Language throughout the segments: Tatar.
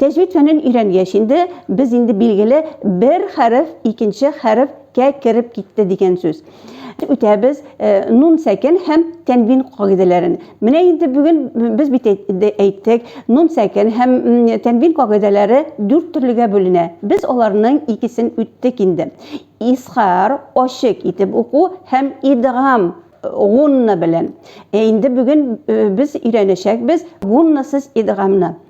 Тәҗвид фәнен өйрәнгәч инде, без инде билгеле бер хәреф икенче хәреф кә кереп китте дигән сүз. Үтәбез нун сәкен һәм тәнвин кагыйдәләрен. Менә инде бүген без бит әйттек, нун сәкен һәм тәнвин кагыйдәләре дүрт төрлегә бүленә. Без аларның икесен үттек инде. Исхар, ачык итеп уку һәм идгам гунна белән. Ә инде бүген без өйрәнәчәкбез гуннасыз идгамны.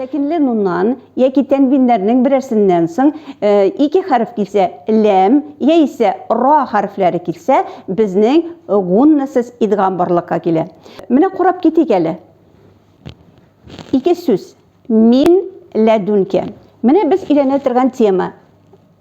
Сәкенле нуннан яки тәнвиннәрнең берәрсеннән соң э, ике хәреф килсә, ләм яисә ра хәрефләре килсә, безнең гуннасыз идгам барлыкка килә. Менә карап китик әле. Ике сүз. Мин ләдүнкә. Менә без өйрәнә торган тема.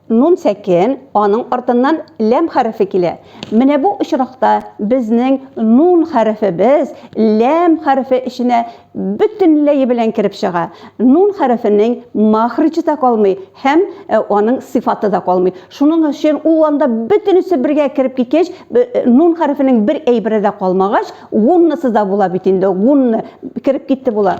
Нун сәкен, аның артыннан ләм хәрефе килә. Менә бу очракта безнең нун хәрефебез ләм хәрефе эченә бөтенләе белән кереп чыга. Нун хәрефенең мәхрҗе дә калмый һәм аның сыйфаты да калмый. Шуның өчен ул анда бөтенесе бергә кереп киткәч, нун хәрефенең бер әйбере дә калмагач, гуннасы да була бит инде, гунна кереп китте була.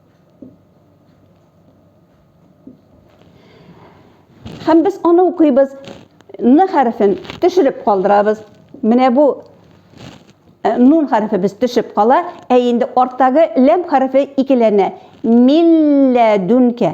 Һәм без аны укыйбыз. Н хәрефен төшереп калдырабыз. Менә бу э, нун хәрефе без төшеп кала, ә инде арттагы ләм хәрефе икеләнә. Милләдүнкә.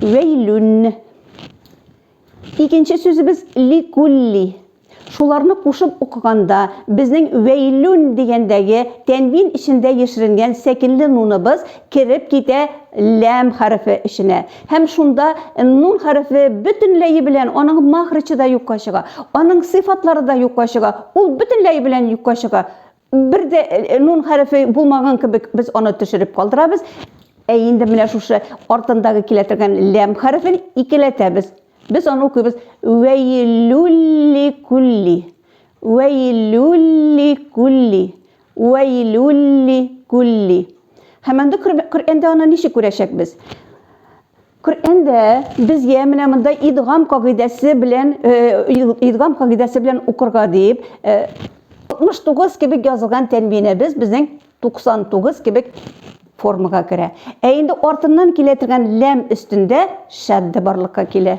Вәйлүн. Икенче сүзебез ликулли. Шуларны кушып укыганда, безнең вәйлүн дигәндәге тәнвин эчендә яшеренгән сәкенле нуныбыз кереп китә ләм хәрефе эченә. Һәм шунда нун хәрефе бөтенләе белән аның махричы да юкка чыга, аның сыйфатлары да юкка чыга, ул бөтенләе белән юкка чыга. Бер дә э, нун хәрефе булмаган кебек без аны төшереп калдырабыз. Ә инде менә шушы артындагы килә торган ләм хәрефен икеләтәбез. Без аны укыйбыз. Вәйлүлли күлли. Вәйлүлли күлли. Вәйлүлли күлли. Һәм анда Коръәндә аны ничек күрәчәкбез? Коръәндә безгә менә монда идгам кагыйдәсе белән идгам кагыйдәсе белән укырга дип 69 кебек язылган тәнвинебез безнең 99 кебек формага керә. Ә инде артыннан килә торган ләм өстендә шәддә барлыкка килә.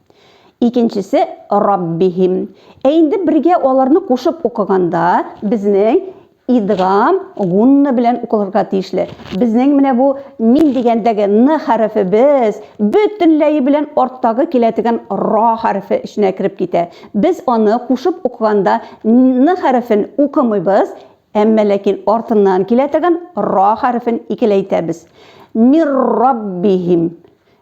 Икенчесе Раббихим. Ә инде бергә аларны кушып укыганда, безнең идгам гунна белән укылырга тиешле. Безнең менә бу мин дигәндәге н хәрефе без бөтенләе белән арттагы килә дигән ра хәрефе эченә кереп китә. Без аны кушып укыганда н хәрефен укымыйбыз, әмма ләкин артыннан килә дигән ра хәрефен икеләйтәбез. Мир Раббихим.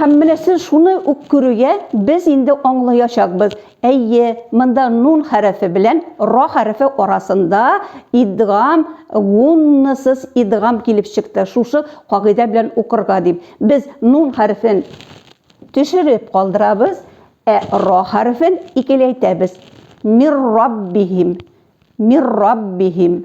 Һәм менә сез шуны ук күрүгә, без инде аңлаячакбыз. Әйе, монда нун хәрефе белән ра хәрефе арасында идгам, гуннасыз идгам килеп чыкты. Шушы кагыйдә белән укырга дип. Без нун хәрефен төшереп калдырабыз, ә ра хәрефен икеләйтәбез. Мир раббихим. Мир раббихим.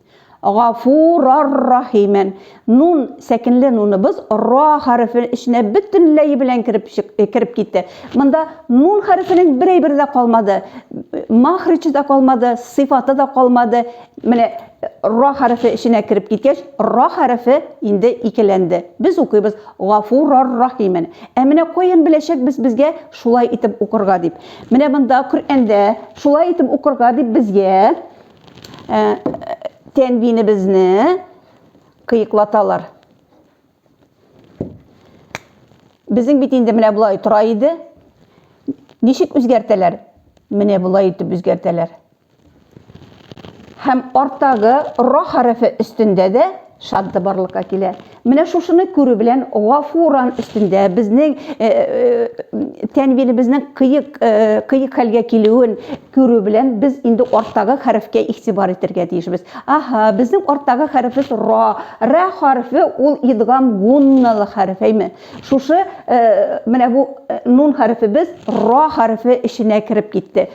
Гафурар-рахимен. Нун сәкенле нуныбыз ра хәрефе эченә бөтенләй белән кереп э, кереп китте. Монда нун хәрефенең бер әйбер дә калмады. Махричы да калмады, сыйфаты да калмады. Менә э, ра хәрефе эченә кереп киткәч, ра хәрефе инде икеләнде. Без укыйбыз гафурар-рахимен. Ә менә каян беләчәкбез безгә шулай итеп укырга дип. Менә монда Коръәндә шулай итеп укырга дип безгә тәнвинебезне кыеклаталар. Безнең бит инде менә болай тора иде. Ничек үзгәртәләр? Менә болай итеп үзгәртәләр. Һәм арттагы ра хәрефе өстендә дә Шат да барлыкка килә. Менә шушыны күрү белән Гафуран өстендә безнең э, э, тәнвинебезнең кыек э, кыек хәлгә килүен күрү белән без инде арттагы хәрефкә игътибар итәргә тиешбез. Аһа, безнең арттагы хәрефебез ра. Ра хәрефе ул идгам гунналы хәреф, әйме? Шушы менә бу нун хәрефебез ра хәрефе эченә кереп китте.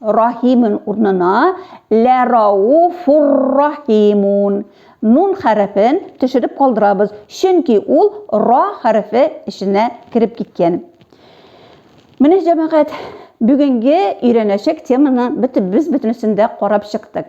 Рахимун урнына ләрауфуррахимун нун хәрефен төшереп калдырабыз, чөнки ул ра хәрефе эченә кереп киткән. Менә җәмәгать, бүгенге өйрәнәчәк теманы без бөтенесен дә карап чыктык.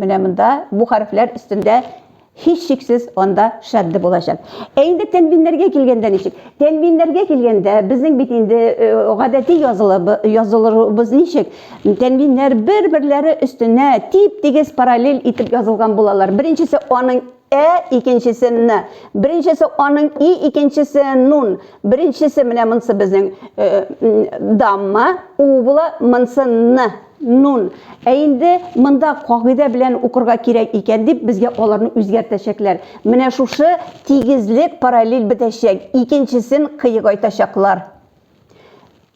Менә монда бу хәрефләр өстендә һич шиксез анда шәдде булачак. Ә инде тәнвиннәргә килгәндә ничек? Тәнвиннәргә килгәндә безнең бит инде э, гадәти язылыбы язылырыбыз ничек? Тәнвиннәр бер-берләре өстенә тип-тигез параллель итеп язылган булалар. Беренчесе аның Ә икенчесе н. Беренчесе аның и, икенчесе нун. Беренчесе менә монсы безнең э, дамма у була, монсы н, нун. Ә инде монда кагыйдә белән укырга кирәк икән дип безгә аларны үзгәртәчәкләр. Менә шушы тигезлек параллель бетәчәк, икенчесен кыегайтачаклар.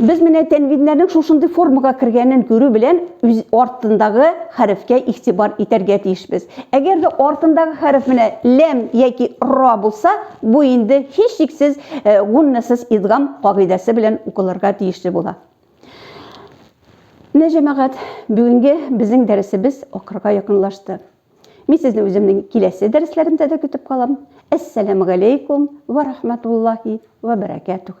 Без менә тәнвиннәрнең шушындый формага кергәнен күрү белән үз артындагы хәрефкә игътибар итәргә тиешбез. Әгәр дә артындагы хәреф менә ләм яки ра булса, бу инде һичшиксез э, гуннасыз идгам кагыйдәсе белән укылырга тиешле була. Менә җәмәгать, бүгенге безнең дәресебез акырга якынлашты. Мин сезне үземнең киләсе дәресләремдә дә көтеп калам. Әссәламу галәйкум ва рахматуллахи ва баракатух.